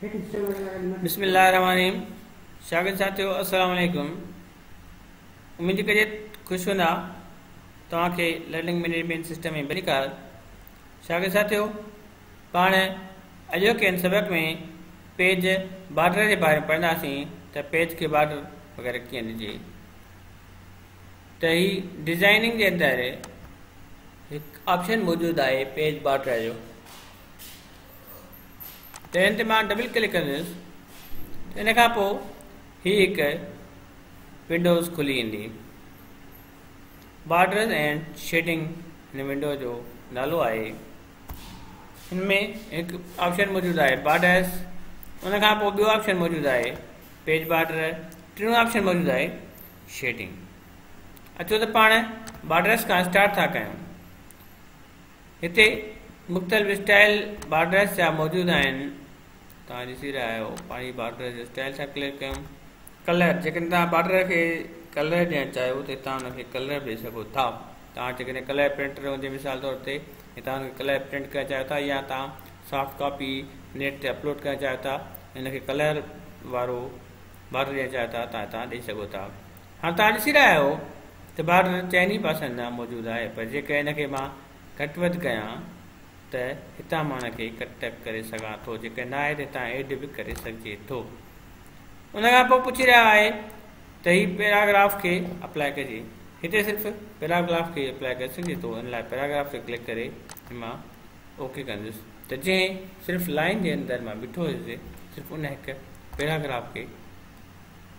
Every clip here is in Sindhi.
بسم الله الرحمن الرحيم شاگرد ساٿيو السلام عليڪم اميد جي ڪري خوش هوندا توهان کي لرننگ مينيجمنٽ سسٽم ۾ ڀلي ڪار شاگرد ساٿيو پاڻ اڄوڪي ان سبق ۾ پيج بارڊر جي باري ۾ پڙهنداسين ته پيج کي بارڊر وغيرہ ڪيئن ڏجي ته هي ڊيزائننگ جي اندر هڪ آپشن موجود آهي پيج بارڊر جو ته هن تي مان ڊبل ڪلڪ ڪندس ته ان کان پوء هي هڪ ونڊوز کلي ايندي بارڊرز اینڊ شيڊنگ هن ونڊو جو نالو آهي هن ۾ هڪ آپشن موجود آهي بارڊرز ان کان پوء ٻيو آپشن موجود آهي پيج بارڊر ٽيون آپشن موجود آهي شيڊنگ اچو ته پاڻ بارڊرز کان اسٽارٽ ٿا ڪيون هتي مختلف اسٽائل بارڊرس جا موجود آهن توهان ڏسي رهيا آهيو پاڻي بارڊر جو اسٽائل سان ڪليڪ ڪيم ڪلر جيڪڏهن توهان بارڊر کي ڪلر ڏيڻ چاهيو ته هتان ان کي ڪلر به ڏئي سگهو ٿا توهان جيڪڏهن ڪلر پرنٽر هوندي مثال طور تي هتان ان کي ڪلر پرنٽ ڪرڻ چاهيو ٿا يا توهان سافٽ ڪاپي نيٽ تي اپلوڊ ڪرڻ چاهيو ٿا ان کي ڪلر وارو بارڊر ڏيڻ چاهيو ٿا تان هتان ڏئي سگهو ٿا هاڻ توهان ڏسي رهيا آهيو ته بارڊر چئن ئي پاسن ڏانهن موجود آهي پر جيڪر ان کي مان گهٽ وڌ ڪيان ته هتان مان ان کي ڪٽ ٽڪ ڪري سگهان ٿو جيڪر ناهي ته هتان ايڊ به ڪري سگهجي ٿو ان کان پوء پڇي رهيا آهي ته هي پيراگراف کي اپلائي ڪجي هتي صرف پيراگراف کي اپلائي ڪري سگهجي ٿو ان لاء پيراگراف تي ڪلڪ ڪري مان اوڪي ڪندس ته جنهن صرف لائن جي اندر مان بيٺو هيس صرف ان هڪ پيراگراف کي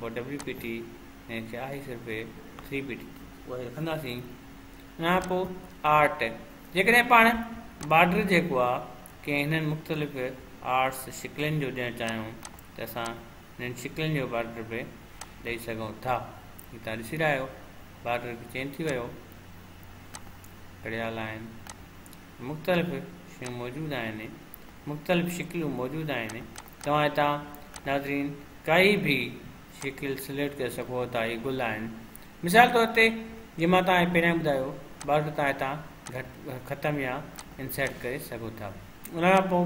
پوء ڊبليو پي ٽي ۽ ڇا هي صرف ٿري پي ٽي اهي رکنداسين ان کان پوء آرٽ جيڪڏهن پاڻ بارڊر جيڪو آ ڪنهن هنن مختلف آرٽس شڪلين جو ڏيڻ چاهيون ته اسان هنن شڪلين جو بارڊر به ڏئي سگهون ٿا هي تان ڏسي رهيا آهيو بارڊر به چينج ٿي ويو گڙيال آهن مختلف شيون موجود آهن مختلف شڪلون موجود آهن توهان هتان ناظرين ڪائي به شڪل سليڪٽ ڪري سگهو ٿا هي گل آهن مثال طور تي جي مان توهان کي پهريان ٻڌايو بارڊر توهان هتان گهٽ ختم يا انسرٽ ڪري سگهو ٿا ان کان پوء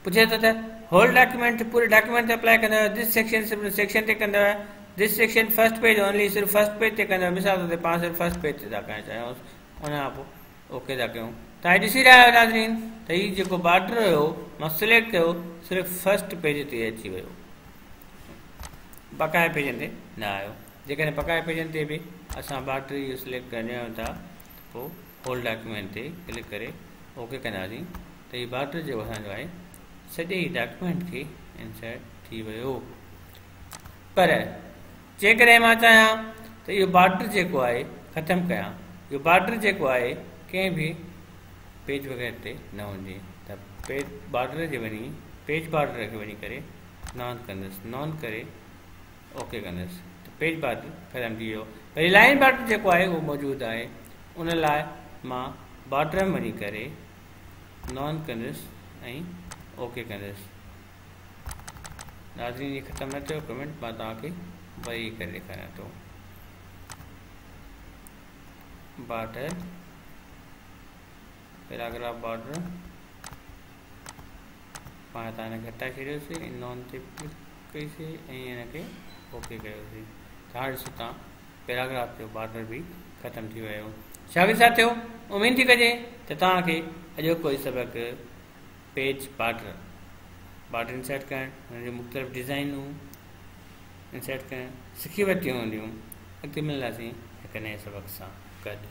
پڇي ٿو ته هول ڊاڪيومينٽ پوري ڊاڪيومينٽ تي اپلائي ڪندو دس سيڪشن صرف سيڪشن تي ڪندو this section first page only صرف فرسٽ پيج تي ڪندو مثال طور تي پاڻ صرف فرسٽ پيج تي ٿا ڪرڻ چاهيون ان کان پوء اوڪي ٿا ڪيون توهان ڏسي رهيا آهيو ناظرين ته هي جيڪو بارڊر هيو مان سليڪٽ ڪيو صرف فرسٽ پيج تي اچي ويو بقايا پيجن تي نه آيو جيڪڏهن بقايا پيجن تي به اسان بارڊر اهو سليڪٽ ڪرڻ چاهيون ٿا پوء هول ڊاڪيومينٽ تي ڪلڪ ڪري اوڪي ڪنداسين ته هي بارڊر جيڪو اسانجو آهي سڄي ڊاڪيومينٽ کي انسرٽ ٿي ويو پر جيڪڏهن مان چاهيان ته اهو بارڊر جيڪو آهي ختم ڪيان، اهو بارڊر جيڪو آهي ڪنهن به پيج وغيره تي نه وڃي ته پيج بارڊر جي وڃي پيج بارڊر کي وڃي ڪري نان ڪندس نان ڪري اوڪي ڪندس ته پيج بارڊر ختم ٿي ويو وري لائن بارڊر جيڪو آهي اهو موجود آهي ان لاء مان بارڊر ۾ وڃي ڪري نان ڪندس ۽ اوڪي ڪندس ناظرين جي ختم نه ٿيو ڪمينٽ مان توهان کي وري ڪري ڏيکاريان ٿو بارڊر پيراگراف بارڊر پاڻ هتان هن کي هٽائي ڇڏيوسي نون تي ڪلڪ ڪئيسي ۽ هن کي اوڪي ڪيوسي ته هاڻ ڏسو تان پيراگراف جو بارڊر به ختم ٿي ويو شاگرد ساتھيو اميد ٿي ڪجي ته توهان کي اڄوڪو هي سبق پيج بارڊر بارڊر انسرٽ ڪرڻ ان جون مختلف ڊزائنون انسرٽ ڪرڻ سکي ورتيون هونديون اڳتي ملنداسين هڪ نئين سبق سان گڏ